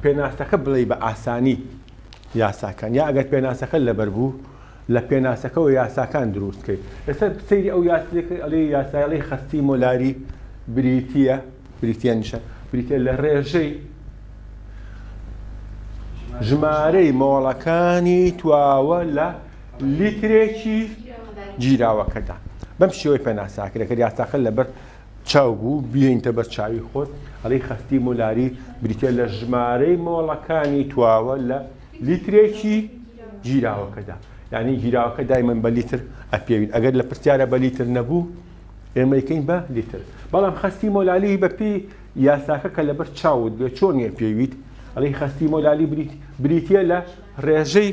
پێناسەکە بڵێی بە ئاسانی یاساکان یا ئەگەر پێناسەکە لەبەر بوو لە پێناسەکەەوە یاساکان دروست کرد لەسەر سەیری ئەو یاسەکە ئەڵێ یاسایڵی خەستی مۆلاری بریتە بریتە نیشە بریتە لە ڕێژەی ژمارەی مۆڵەکانی تواوە لە لیترێکی گیراوەکەدا بەم شێوەی پێناساکرێکە یاساخل لەبەر چاو بوو بیێنتە بەر چاوی خۆت ئەڵی خەستی مولاری بریتە لە ژمارەی مۆڵەکانی تواوە لە لیترێکی گیراوەکەدا یعنی گیراوەکە دایمەن بە لیتر ئەپێوین ئەگەر لە پرسیارە بە لیتر نەبوو ئێمەیکەین بە لیتر بەڵام خەستی مۆلالی بەپی یاساکە کە لەبەر چاوت بێ چۆن یە پێویت ئەڵی خەستی مۆلالی بریت بریتە لە ڕێژەی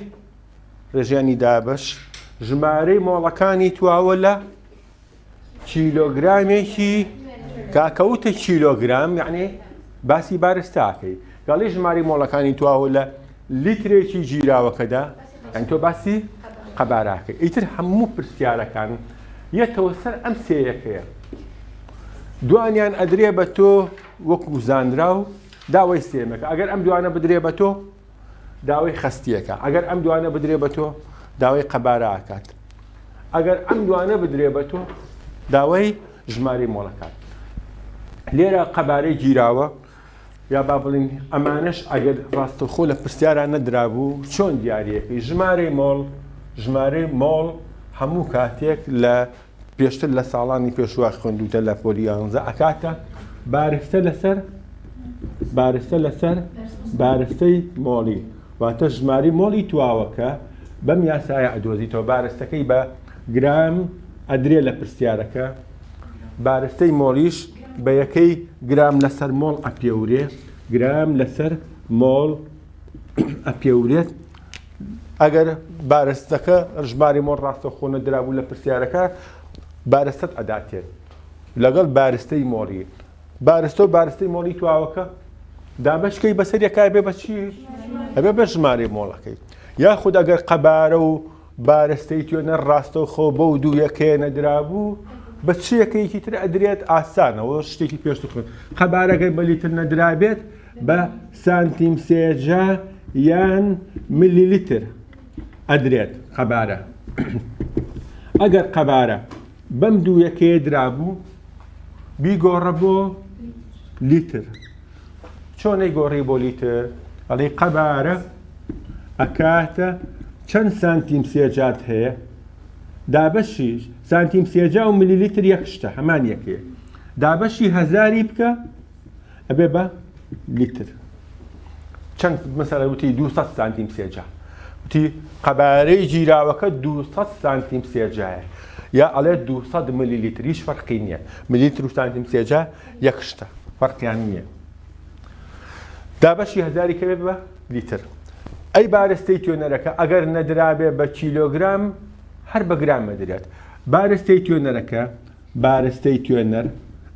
ڕێژیانی دابش ژمارەی مۆڵەکانی تواوە لە کیلۆگرامێکی کاکەوتە کیلۆگرام یعنی باسی بارستاکەی گەڵی ژماری مۆڵەکانی تواوە لە لیترێکی گیراوەکەدا ئەن تۆ باسی قەباراکە ئیتر هەموو پرسیارەکان یەتەوە سەر ئەم سێیەکەیە دوانیان ئەدرێ بە تۆ وەکو زانراو داوای سێمەکە ئەگەر ئەم دوانە بدرێ بە تۆ داوەی خەستیەکە ئەگەر ئەم دوانە بدرێ بە تۆ داوای قەباراکات ئەگەر ئەم دوانە بدرێ بە تۆ داوای ژماری مۆڵەکات لێرە قەبارەی گیراوە یا با بڵین ئەمانش ئەگەر ڕاستەخۆ لە پرسیاران نەدرابوو چۆن دیارەکەی ژمارەی مۆڵ ژمارەی مۆڵ هەموو کاتێک لە پێشتر لە ساڵانی پێشوە خوێندوتە لە پۆلی یانزە ئەکاتە بارستە لەسەر بارستە لەسەر بارستەی مۆڵی واتە ژماری مۆڵی تواوەکە بەم یاسایە ئەدۆزیتەوە بارستەکەی بە گرام ئەدرێ لە پرسیارەکە بارستەی مۆلیش بە یەکەی گرام لەسەر مۆڵ ئەپێورێ گرام لەسەر مۆڵ ئەپێورێت ئەگەر بارستەکە ژماری مۆر ڕاستەخۆ نەدرابوو لە پرسیارەکە بارستەت ئەداتێت لەگەڵ بارستەی مۆڵی بارستە و بارستەی مۆڵی تواوەکە دابشکەی بەسەر یەکای بێ بەچی ئەبێ بە ژمارەی مۆڵەکەی یاخود ئەگەر قەبارە و بارە ستەیتیۆنە ڕاستەوخۆ بەو دوو یەکەیە نەدرابوو بە چ یەکەیەکی تر ئەدرێت ئاسانەوە شتێکی پێشتر خوێن قەبارەگەر بە لیتر نەدرابێت بە سانتیم سێجا یان ملی لیتر ئەدرێت قەبارە ئەگەر قەبارە بەم دوو یەکەیە درابوو بیگۆڕە بۆ لیتر چۆن ئەیگۆڕی بۆ لیتر؟ ئەڵێی قەبارە ئەکاتە چەند سانتیم سێجاد هەیە دابەشی سانتیم سێجا و ملی لیتر یەک شتە هەمان یەکێ دابەشی هەزاری بکە ئەبێ بە لیتر چەند مەسەرە وتی 200 سانتیم سێجا وتی قەبارەی گیراوەکە 200 سانتیم سێجایە یا ئەڵێ 200 ملی لیتریش فەرقی نییە ملیتر و سانتیم سێجا یەک شتە فەرقیان نیە دابەشی هەزاری کەبێت بە لیتر ئەی بارستەی توێنەرەکە ئەگەر نەدرابێ بە کیلۆگرام هەر بە گرام مەدرێت بارستەی توێنەرەکە بارستەی توێنەر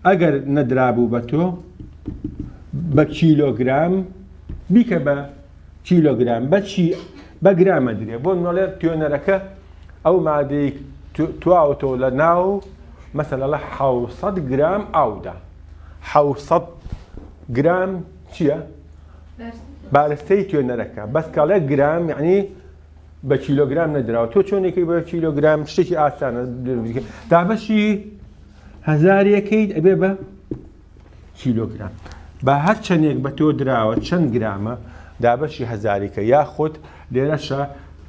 ئەگەر نەدرابوو بە تۆ بە کیلۆگرام بیکە بە کیلۆگرام بە چی بە گرام ئەدرێ بۆ نۆلێر توێنەرەکە ئەو مادەی تواوەتەوە لە ناو مەسەلە لە حوسەد گرام ئاودا حوسەد گرام چییە؟ بارستەی توێنەرەکە بەس کاڵێک گرام یعنی بە کیلۆگرام نەدراوە تۆ چۆنێکی بە کیلۆگرام شتێکی ئاسانە دابەشی هزار یەکەیت ئەبێ بە کیلۆگرام با هەر چەندێک بە تۆ دراوە چەند گرامە دابەشی هەزاریکە یاخود لێرەشە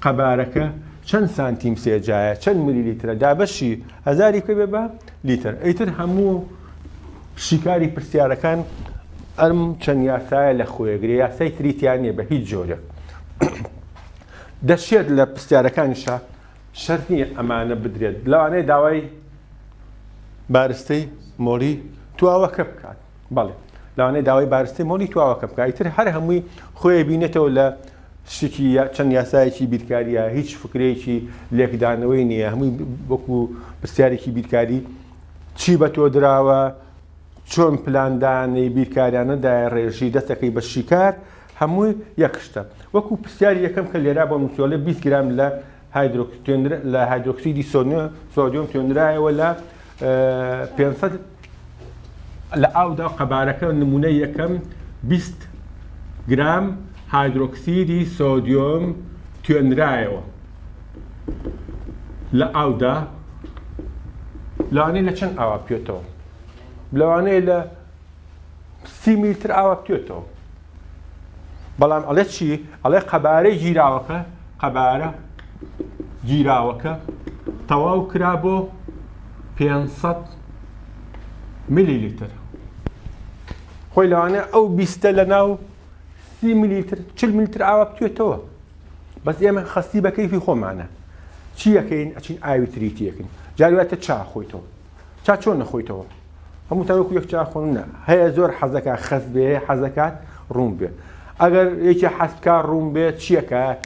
قەبارەکە چەند سانتیم سێجایە چەند ملی لیترە دابەشی هەزاری پێ بێ بە لیتر ئەیتر هەموو شیکاری پرسیارەکان ئەم چەند یاسایە لە خۆیەگرێ یاسای تریتیان نیە بە هیچ جۆرێک دەشێت لە پرسیارەکانیشە شەرت نییە ئەمانە بدرێت، لەوانەیە داوای بارستەی مۆڵی تواوەکە بکات، بەڵێ لەوانەیە داوای بارستەی مۆڵی تواوەکە بکات، ئیتر هەر هەمووی خۆی بینێتەوە لە شتێکی چەند یاسایەکی بیرکاریە هیچ فکرەیەکی لێکدانەوەی نییە هەمووی وەکو پرسیارێکی بیرکاری چی بە تۆ دراوە چۆن پلاندانەی بیرکاریانەدای ڕێژی دەستەکەی بە شیکار هەمووی یەک شتە. وەکو پرسیاری یەکەم کە لێرا بۆم نووسیوە ئەڵێ بیست گرام لە لە هایدرۆکسیدی سۆدیۆم تۆێنرایەوە لە پێنج سەد لە ئاودا و قەبارەکە نمونە یەکەم بیست گرام هایدرۆکسیدی سۆدیۆم توێنرایەوە لە ئاودا لانی لە چەند ئاوا پێێتەوە لەوانەیە لە سی میل تر ئاوە بتوێتەوە بەڵام ئەڵێ چی ئەڵێ قەبارەی گیراوەکە قەبارە گیراوەکە تەواو کرا بۆ 500 ملی لیتر خۆی لەوانە ئەو بیستە لە ناو سی ملیتر چل ملیتر ئاوا بتوێتەوە بەس ئێمە خەستی بە کەیفی خۆمانە چیەکەین ئەچین ئاوی تریتیەکەین جارواتە چا خۆیتەوە چا چۆن نەخۆیتەوە هەموو تاوەکو یەک چا خۆن نە هەیە زۆر حەزەکە خەز بێ حەزەکات ڕوون بێ ئەگەر یەکی حەسکە ڕوون بێت چیەکات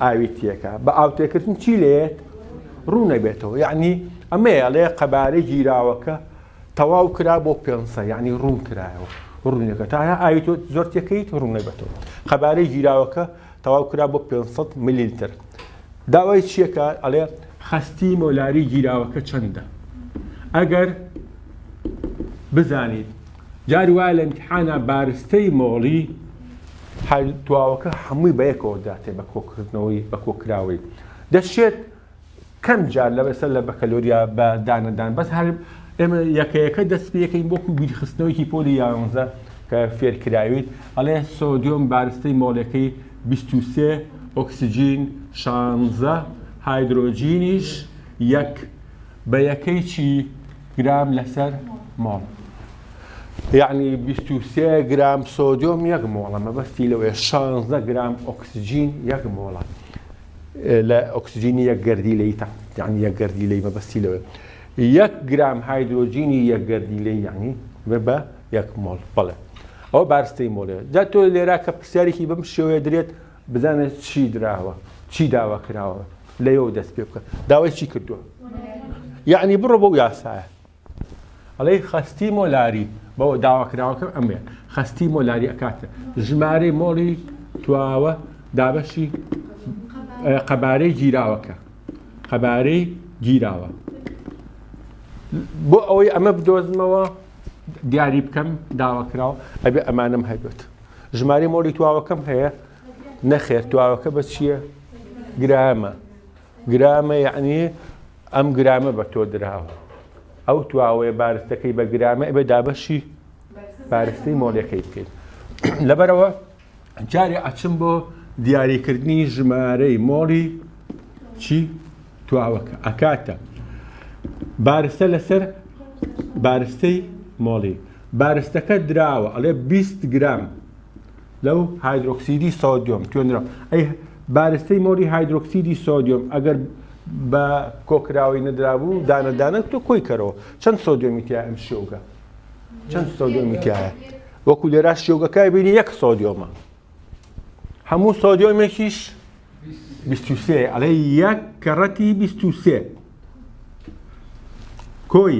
ئاویتیەکە بە ئاوتێکردن چی لێت ڕوو نەبێتەوە یعنی ئەمەیە لێ قەبارەی گیراوەکە تەواو کرا بۆ پێنسە یعنی ڕوون کرایەوە ڕوونەکە تا ئاوی تۆ زۆر تێکەیت ڕوونەبێتەوە قەبارەی گیراوەکە تەواو کرا بۆ پێنج سەد ملیلتر داوای چییە کە ئەڵێ خەستی مۆلاری گیراوەکە چەندە ئەگەر بزانیت جار وایە لە امتحانا بارستەی مۆڵی هەر دواوەکە هەمووی بە یەکەوە داتێ بە کۆکردنەوەی بە کۆکراوەی دەشێت کەم جار لە بەسەر لە بەکەلۆریا بە دانەدان بەس هەر ئێمە یەکەیەکە دەست پێەکەین بۆکو بیرخستنەوەیکی پۆلی یاانزە کە فێرکراویت ئەڵێ سۆدیۆم بارستەی مۆڵەکەی 23 ئۆکسسیجین شانزە هایدرۆجینیش یەک بە یەکەی چی گرام لەسەر مۆڵ یعنی 23 گرام سۆدیۆم یەک مۆڵە مەبەستی لەوەیە 16 گرام ئۆکسسیجین یەک مۆڵە لە ئۆکسجینی یەک گەردیلەی تا یعنی یەک گەردیلەی مەبەستی لەوێ یەک گرام هایدرۆجینی یەک گەردیلەی یعنی بە یەک مۆڵ بەڵێ ئەو بارستەی مۆڵێ جا تۆ لێرا کە پرسیارێکی بەم شێوەیە درێت بزانێت چی دراوە چی داوا کراوە لەەوە دەست پێ بکە داوای چی کردووە یعنی بڕۆ بەو یاسایە ئەڵێی خەستی مۆلاری بۆ داواکراوەکەم ئەمەیە خەستی مۆلاری ئەکاتە ژمارەی مۆڵی تواوە دابەشی قەبارەی گیراوەکە قەبارەی گیراوە بۆ ئەوەی ئەمە بدۆزمەوە دیاری بکەم داواکراوە ئەبێ ئەمانم هەبێت ژمارەی مۆڵی تواوەکەم هەیە نەخێر تواوەکە بە چییە گرامە گرامە یەعنی ئەم گرامە بە تۆ دراوە ئەو تواوەیە بارستەکەی بە گرامە ئەبێ دابەشی بارستەی مۆلەکەی بکەیت لەبەرەوە جارێ ئەچم بۆ دیاریکردنی ژمارەی مۆڵی چی تواوەکە ئەکاتە بارستە لەسەر بارستەی مۆڵی بارستەکە دراوە ئەڵێ 20 گرام لەو هایدرۆکسیدی سۆدیۆم توێنرا ئەی بارستەی مۆری هایدرۆکسیدی سۆدیۆم ئەگەر بە کۆکراوی نەدرابوو دانەدانە تۆ کۆی کەرەوە چەند سۆدیۆمی تیا ئەم شێوگە چەند سۆدیۆمی تایە وەکو لێرا شێوگەکای بینی یەک سۆدیۆمە هەموو سۆدیۆمێکیش 23 ئەڵێ یەک کەڕەتی 23 کۆی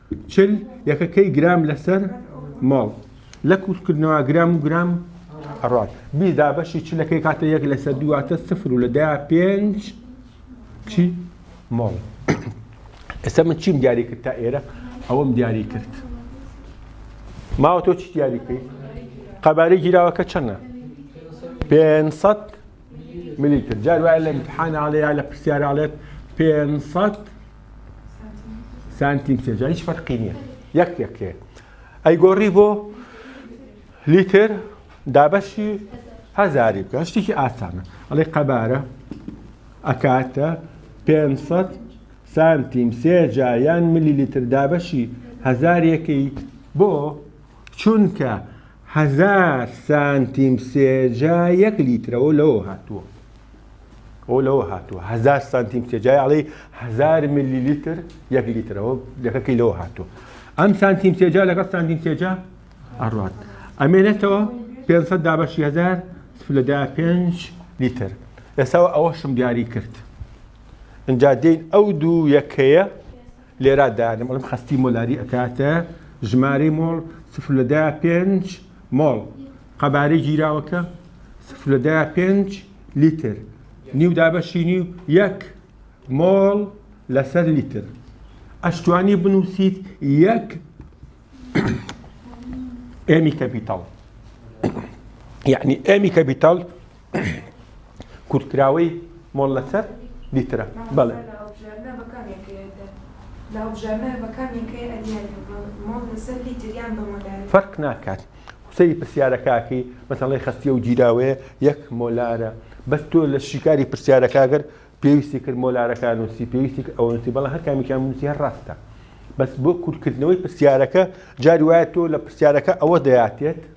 چل یەکەکەی گرام لەسەر مۆڵ لە کورتکردنەوە گرام و گرام ئەڕات بی دابەشی چلەکەی کاتە یەک لەسەر دواتە سفر و لە دایا پێنج چی مۆڵ ئێستا من چیم دیاری کرد تا ئێرە ئەوەم دیاری کرد ماوە تۆ چی دیاری کرد قەبارەی گیراوەکە چەندە 500 ملیتر جار وایە لە امتحان ئاڵێ یا لە پرسیارەڵێت 500 سانتیم سێ جا هیچ فەرقی نییە یەک یەک هەیە ئەیگۆڕی بۆ لیتر دابەشی هەزاری بکە شتێکی ئاسانە ئەڵێ قەبارە ئەکاتە 500 سانتیم سێ جا یان ملی لیتر دابەشی هەزارێکەی بۆ چونکە هەزار سانتیم سێجا یەک لیترەوە لەوە هاتووە ئەو لەوە هاتووە هزار سانتیم تێ جای ئەڵی هزار ملی لیتر یەک لیترەوە لەکەکەی لەوە هاتووە ئەم سانتیم تێجا لەگەڵ سانتیم تێجا ئەڕات ئەمێنێتەوە 500 دابەشی هزار لەدا پێنج لیتر ئێساوە ئەوەشم دیاری کرد ئەجا دێن ئەو دوو یەکەیە لێرا دانم ئەڵم خستی مۆلاری ئەکاتە ژماری مۆڵ سفر لەدا پێنج مۆڵ قەبارەی گیراوەکە سفرە دە پێنج لیتر نیو دابەشی نیو یەک مۆڵ لەسەر لیتر ئەشتوانی بنووسیت یەک ئێمی کەپیتاڵ یعنی ئێمی کەپیتاڵ کورتکراوەی مۆلەتەر لیترە بەڵێ فەرق ناکات سەری پرسیارەکەکەی مەتەڵی خستیە و گیراوەیە یەک مۆلارە بەس تۆ لە شیکاری پرسیارەکەگەر پێویستی کرد مۆلارەکان نووسی پێویستی ئەوەنسی بەڵە هەرکامیکان نووسی هەر ڕاستە بەس بۆ کورتکردنەوەی پرسیارەکە جاری وایە تۆ لە پرسیارەکە ئەوە دەیاتێت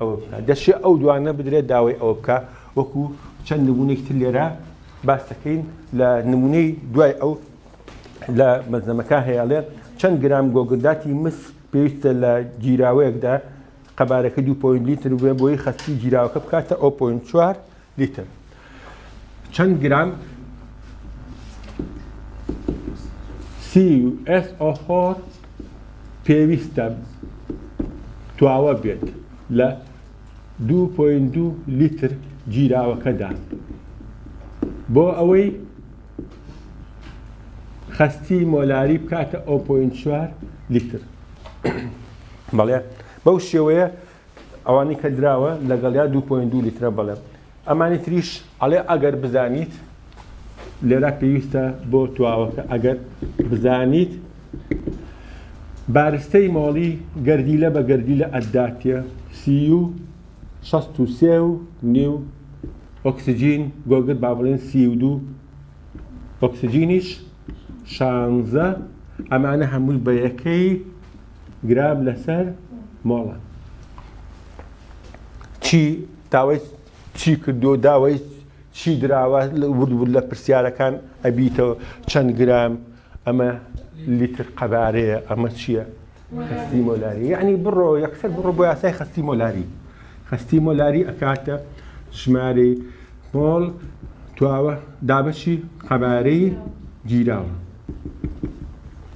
ئەوە بکا دەشێ ئەو دوانە بدرێت داوای ئەوە بکە وەکو چەند نمونێکی تر لێرە باس دەکەین لە نمونەی دوای ئەو لە مەزنەمەکە هەیەڵێ چەند گرام گۆگرداتی مس پێویستە لە گیراوەیەکدا قەبارەکە 2.لیتر بێ بۆی خەستی گیراوەکە بکاتە ئەو پوین چوار لیتر چەند گرام CuSO4 پێویستە تواوە بێت لە 2.2 لیتر گیراوەکەدا بۆ ئەوەی خەستی مۆلاری بکاتە 0.4 لیتر بەڵێ بەو شێوەیە ئەوانی کە دراوە لەگەڵیا دوو پۆینت دوو لیترە بەڵێ ئەمانی تریش ئەڵێ ئەگەر بزانیت لێرا پێویستە بۆ تواوەکە ئەگەر بزانیت بارستەی مۆڵی گەردیلە بە گەردیلە ئەداتە سی و 63 و نیو ئۆکسجین گۆگر با بڵێن سی و دوو ئۆکسجینیش شانزە ئەمانە هەمووی بە یەکەی گراب لەسەر مۆڵەت. چی داوای چی کردو داوای چی دراوە ورد ورد لە پرسیارەکان ئەبیتەوە چەند گرام ئەمە لیتر قەبارەیە ئەمە چییە؟ خستی مۆلاری یعنی بڕۆ یەکسەر بڕۆ بۆ یاسای خستی مۆلاری خستی مۆلاری ئەکاتە ژمارە مۆڵ تواوە دابەشی قەبارەی گیراوە.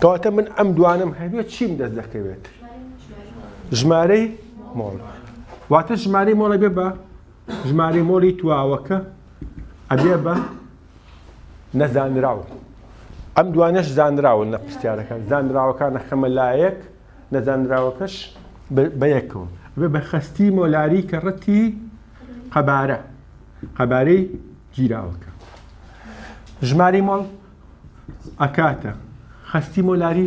کەواتە من ئەم دوانم هەبێت چیم دەست دەکەوێت ژمارەی مۆڵ واتە ژمارەی مۆڵە بێ بە ژمارەی مۆڵی تواوەکە ئەبێ بە نەزانراوە ئەم دوانش زانراون لە پرسیارەکان زانراوەکان نەخەمە لایەک نەزانراوەکەش بەیەکەوە بێ بە خستی مۆلاری کە ڕەتی قەبارە قەبارەی گیراوەکە ژماری مۆڵ ئەکاتە خەستی مۆلاری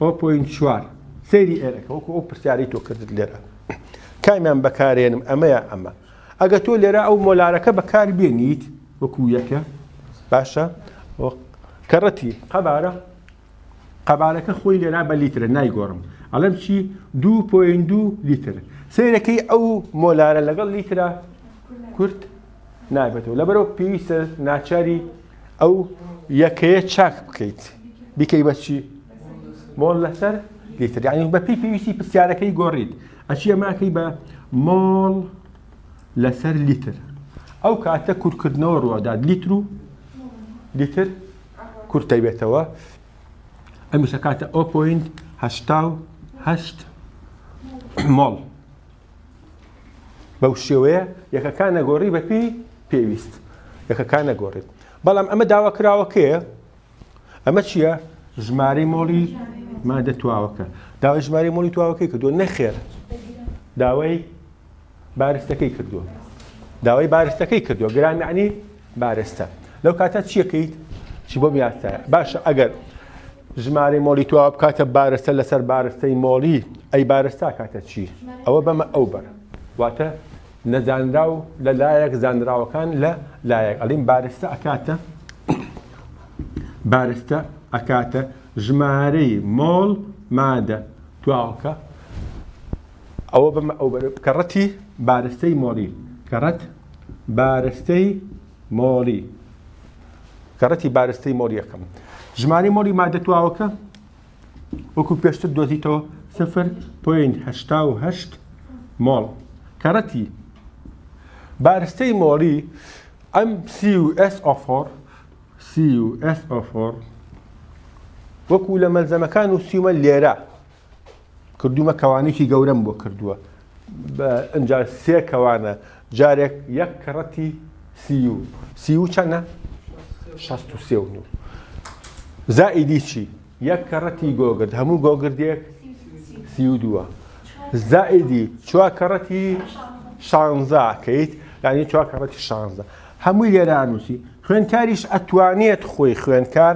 ئەو پوین چوار سەیری ئێرەکە وەکو ئەو پرسیارەی تۆ کردت لێرە کامیان بەکارێنم ئەمەیە ئەمە ئەگە تۆ لێرە ئەو مۆلارەکە بەکار بێنیت وەکو یەکە باشە کەڕەتی قەبارە قەبارەکە خۆی لێرا بە لیترە نایگۆڕم ئەڵم چی دو پوین دو لیتر سیرەکەی ئەو مۆلارە لەگەڵ لیترا کورت نابێتەوە لەبەرەوە پێویستە ناچاری ئەو یەکەیە چاک بکەیت بیکەی بەچی مۆڵ لەسەر لیتر یعنی بە پێی پێویستی پرسیارەکەی گۆڕیت ئەچی ئەماکەی بە مۆڵ لەسەر لیتر ئەو کاتە کورتکردنەوە ڕوادات لیتر و لیتر کورتە بێتەوە ئەمیشە کاتە ئۆپۆین هەشتا و هەشت مۆڵ بەو شێوەیە یەکەکان نەگۆڕی بەپی پێویست یەکەکان نەگۆڕیت بەڵام ئەمە داوا کراوەکەیە ئەمە چییە ژمارەی مۆڵی مادە تواوەکە داوای ژمارەی مۆڵی تواوەکەی کردووە نەخێر داوای بارستەکەی کردووە داوای بارستەکەی کردووە گرانانی بارستە لەو کاتە چیەکەیت چی بۆ میاتە باشە ئەگەر ژمارەی مۆلی تواوە بکاتە بارستە لەسەر بارستەی مۆلی ئەی بارستا کاتە چی ئەوە بەمە ئەو بەر واتە نەزانراو لە لایەک زانراوەکان لە لایەک ئەلیم بارستە ئەکاتە بارستە ئەکاتە ژمارەی مۆڵ مادە تواوەکە ئەوە بەمە ئەو کەڕەتی بارستەی مۆلی کەڕەت بارستەی مۆلی زەڕەتی بارستەی مۆڵ یەکەم ژمارەی مۆلی مادە تواوەکە وەکو پێشتر دۆزیتەوە 0.8 مۆڵ کەڕەتی بارستەی مۆڵی ئەم CUSO4 CUSO4 وەکو لە مەلزەمەکان و سیومە لێرە کردومە کەوانێکی گەورەم بۆ کردووە ئەجا سێ کەوانە جارێک یەک کەڕەتی سی و سی و چەنە شەست و سێ و نو زائیدی چی یەک کەڕەتی گۆگرد هەموو گۆگردێک سی و دووە زائیدی چوا کەڕەتی شانزا کەیت ینی چوا کەڕەتی شانزە هەمووی لێرانوسی خوێنکاریش ئەتوانێت خۆی خوێنکار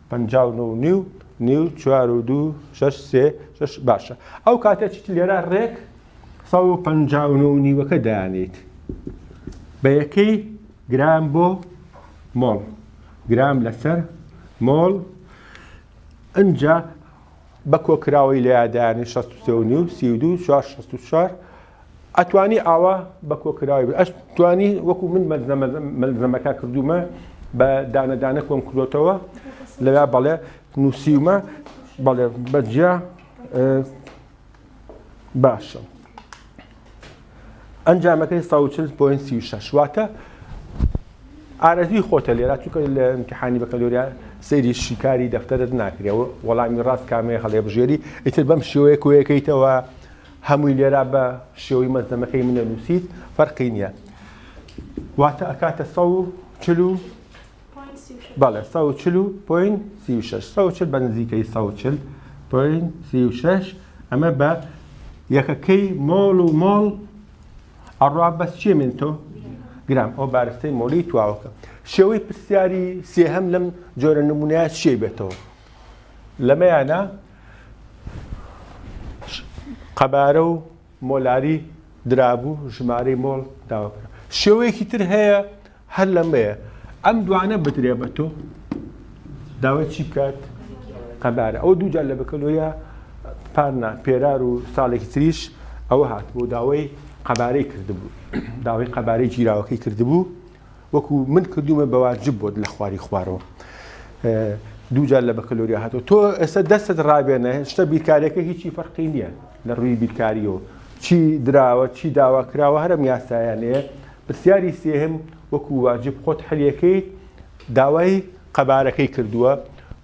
پەنجا و نۆ و نیو نیو چوار و دوو شەش سێ شەش باشە ئەو کاتە چیت لێرە ڕێک سە و پەنجا و نۆ و نیوەکە دانیت بە یەکەی گرام بۆ مۆڵ گرام لەسەر مۆڵ ئەجا بە کۆکراوەی لە یادانی 16 نیو سی و دو چوار شست و چوار ئەتوانی ئاوا بە کۆکراوی بێ ئەش توانی وەکو من مەلزەمەکە کردومە بە دانە دانە کۆم کردوتەوە لەلا بەڵێ نووسیومە بەڵێ بەجیا باشە ئەنجامەکەی 16.36 واتە ئارەزی خۆتە لێرا چونکە لە امتحانی بەکەلۆریا سەیری شیکاری دەفتەرت ناکرێەوە وەڵامی ڕاست کامەیە هەڵێ بژێری ئیتر بەم شێوەیە کۆیەکەیتەوە هەمووی لێرا بە شێوەی مەزەمەکەی من ئەنووسیت فەرقی نییە واتە ئەکاتە سەد و چل و بەڵێ سەد و چل و پۆین سی و شەش سەد و چل بە نزیکەی سەد و چل پۆین سی و شەش ئەمە بە یەکەکەی مۆڵ و مۆڵ ئەڕا بەس چێ من تۆ گرام ئەو بارستەی مۆلی تواوەکە شێوەی پرسیاری سێهەم لەم جۆرە نمونە چێ بێتەوە لەمەیانە قەبارە و مۆلاری درابوو ژمارەی مۆڵ داوەکرا شێوەیەکی تر هەیە هەر لەمەیە ئەم دوانە بدرێ بە تۆ داوای چی بکات قەبارە ئەو دوو جار لە بەکەلۆیا پارنا پێرار و ساڵێکی تریش ئەوە هات بۆ داوای قەبارەی کردبوو داوای قەبارەی گیراوەکەی کردبوو وەکو من کردومە بەواجب بۆت لە خواری خوارەوە دوو جار لە بەکەلۆریا هاتۆ تۆ ئێستا دەستت ڕابێنە شتە بیرکارەکە هیچی فەرقی نییە لە ڕووی بیرکاریەوە چی دراوە چی داوا کراوە هەرم یاسایانەیە پرسیاری سێهم وەکو واجب خۆت حلیەکەی داوای قەبارەکەی کردووە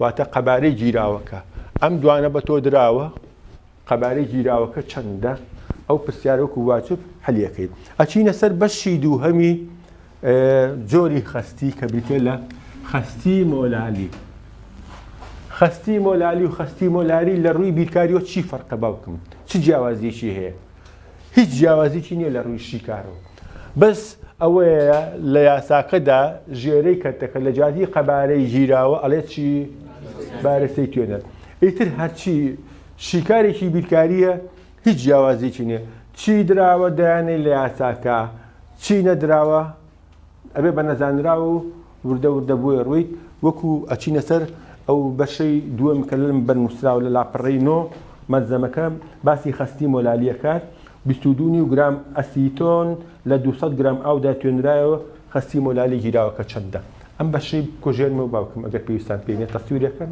واتە قەبارەی گیراوەکە ئەم دوانە بە تۆ دراوە قەبارەی گیراوەکە چەندە؟ ئەو پرسیارە وەکو واجب حلیەکەی. ئەچینە سەر بەشی دووهەمی جۆری خەستی کە بریتە لە خەستی مۆلالی. خەستی مۆلالی و خەستی مۆلاری لە ڕووی بیرکاریەوە چی فەرقە باوکم چ جیاوازیەکی هەیە هیچ جیاوازیی نییە لە ڕووی شیکارەوە بەس ئەوەیە لە یاساکەدا ژێرەی کەتەکە لە جاتی قەبارەی گیراوە ئەڵێ چی بارەسەی توێنەر ئیتر هەرچی شیکارێکی بیرکارییە هیچ جیاوازیەکی نیە چی دراوە دەیانەی لە یاساکە چی نەدراوە ئەبێ بە نەزانراو و وردە وردە بۆیە ڕویت وەکو ئەچینە سەر ئەو بەشەی دووەم کە لەم بەر نووسراوە لە لاپەڕەی نۆ مەلزەمەکە باسی خەستی مۆلالیەکات بیست و دوو نیو گرام ئەسیتۆن لە دوو سەد گرام ئاودا توێنرایەوە خەستی مۆلالی گیراوەکە چەندە ئەم بەشەی بکۆژێنمەوە باوکم ئەگەر پێویستان پێی نیە تەسویرەکەن.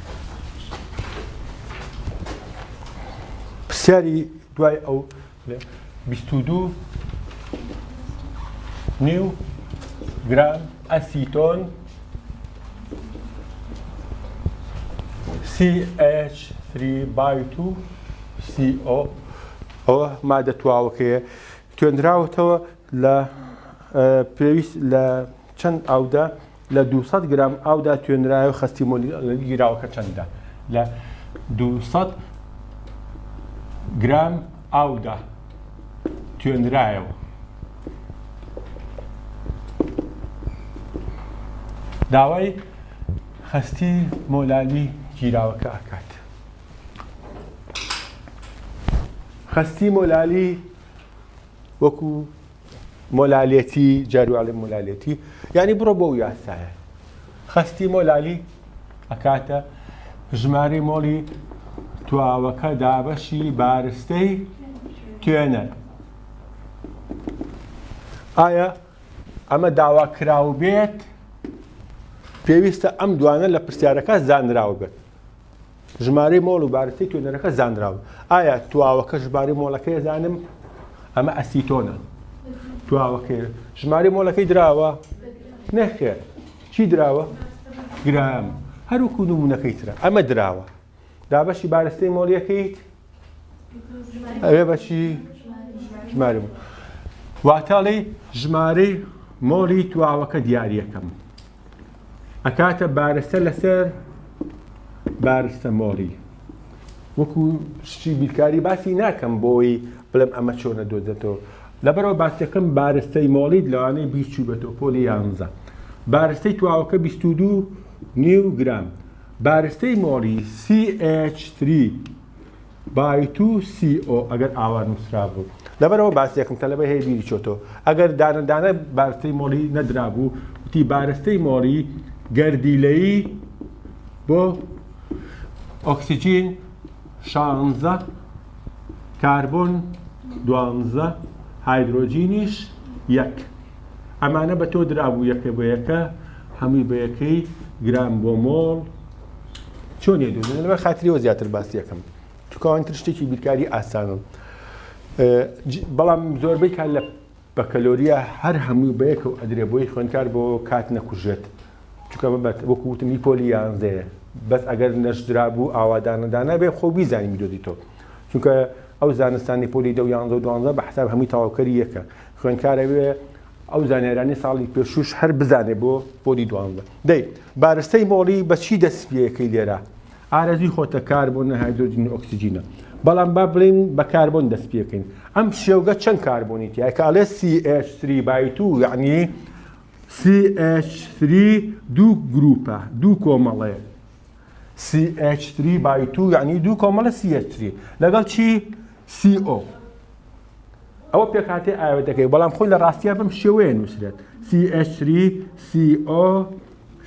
پرسیاری دوای ئەو دوو نیو گرام ئەسیتۆن CH3 بای تو CO ئەوە مادە تواوەکەیە توێنراوەتەوە لە پێویست لە چەند ئاودا لە دوو سەد گرام ئاودا توێنرایە و خەستی مۆلیگیراوەکە چەندە لە دوو سەد گرام ئاودا توێنرایەوە داوای خەستی مۆلالی گیراوەکە ئەکات خەستی مۆلالی وەکو مۆلالیتی جارو ئەڵێ مۆلالیتی یعنی بڕۆ بۆ ئەو یاسایە خەستی مۆلالی ئەکاتە ژمارەی مۆڵی تواوەکە دابەشی بارستەی توێنە ئایا ئەمە داوا کراو بێت پێویستە ئەم دوانە لە پرسیارەکە زانراو بێت ژمارەی مۆڵ و بارستەی توێنەرەکە زانراوە. ئایا تواوەکە ژمارەی مۆڵەکەی ئەزانم؟ ئەمە ئەسیتۆنە. تواوەکەی. ژمارەی مۆڵەکەی دراوە؟ نەخێر. چی دراوە؟ گرام. هەروکو نمونونەکەی ترە. ئەمە دراوە. دابەشی بارستەی مۆڵیەکەیت؟ ئەوێ بەچی ژمارە بوو واتاڵی ژمارەی مۆڵی تواوەکە دیارەکەم ئەکاتە بارستە لەسەر بارستە مۆڵی وەکو شتی بیرکاری باسی ناکەم بۆی بڵێم ئەمە چۆنە دۆزێتەوە لەبەرەوە باسەکەم بارستەی مۆڵیت لەوانەیە بیچوو بێتەوە پۆلی یانزە بارستەی تواوەکە 22 نیو گرام بارستەی مۆری سی ئێچ تری بای تو سی ئۆ ئەگەر ئاوا نوسرابوو. لەبەرئەوە باسیەکم کە لەبەر هەیە بیری چۆتەوە ئەگەر دانە دانە بارستەی مۆری نەدرابوو وتی بارستەی مۆری گەردیلەیی بۆ ئۆکسجین شانزە کاربۆن دوانزە هایدرۆجینیش یەک. ئەمانە بە تۆ درابوو یەکە بە یەکە هەمووی بە یەکەی گرام بۆ مۆڵ چۆن یە دوو لەبەر خاتریەوە زیاتر باسیەکەم تکوان تر شتێکی بیرکاری ئاسانم بەڵام زۆربەی کار لە بەکەلۆریە هەر هەمووی بەیەکە و ئەدرێ بۆی خوێنکار بۆ کات نەکوژێت چکە بەبەت وەکو وتم هی پۆلی یانزەیە بەس ئەگەر نەشدرا بوو ئاوادانەدانە بێ خۆ بیزانانی دۆدی تۆ چونکە ئەو زانستانی پۆلی دە یانزە و دوانزە بە حساب هەمووی تەواوکەری یەکە خوێندکار ئەوێ ئەو زانیارانەی ساڵی پێشووش هەر بزانێ بۆ پۆلی دوانزە. دەی بارستەی مۆڵی بە چی دەست پێیەکەی لێرە؟ ئارەزووی خۆتە کاربۆنە هایدرۆجینی ئۆکسجینە. بەڵام با بڵێین بە کاربۆن دەست پێکەین. ئەم شێوگە چەند کاربۆنی تیایە کە ئەڵێ CH3 بای تو یعنی CH3 دوو گروپە دوو کۆمەڵەیە. سی ئێچ تری بای تو یعنی دوو کۆمەڵە سی ئێچ تری لەگەڵ چی سی ئۆ ئەوە پێکاتی ئاوێتەکەی بەڵام خۆی لە ڕاستیا بەم شێوەیە نووسرێت سی ئێچ تری سی ئۆ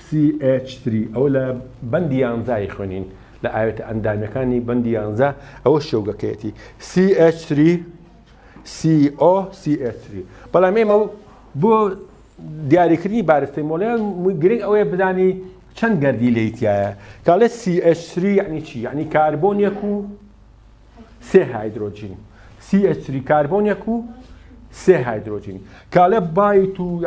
سی ئێچ تری ئەو لە بەندی یانزای خوێنین لە ئاوێتە ئەندامەکانی بەندی یانزا ئەوە شێوگەکەیەتی سی ئێچ تری سی ئۆ سی ئێچ تری بەڵام ئێمە بۆ دیاریکردنی بارستەی مۆڵەیان گرنگ ئەوەیە بزانی چەند گەردی لێی تایە کاڵێ CH3 یعنی چی یعنی کاربۆنیەک و سێ هایدرۆجین CH3 کاربۆنیەک و سێ هایدرۆجین کاڵێ بایت و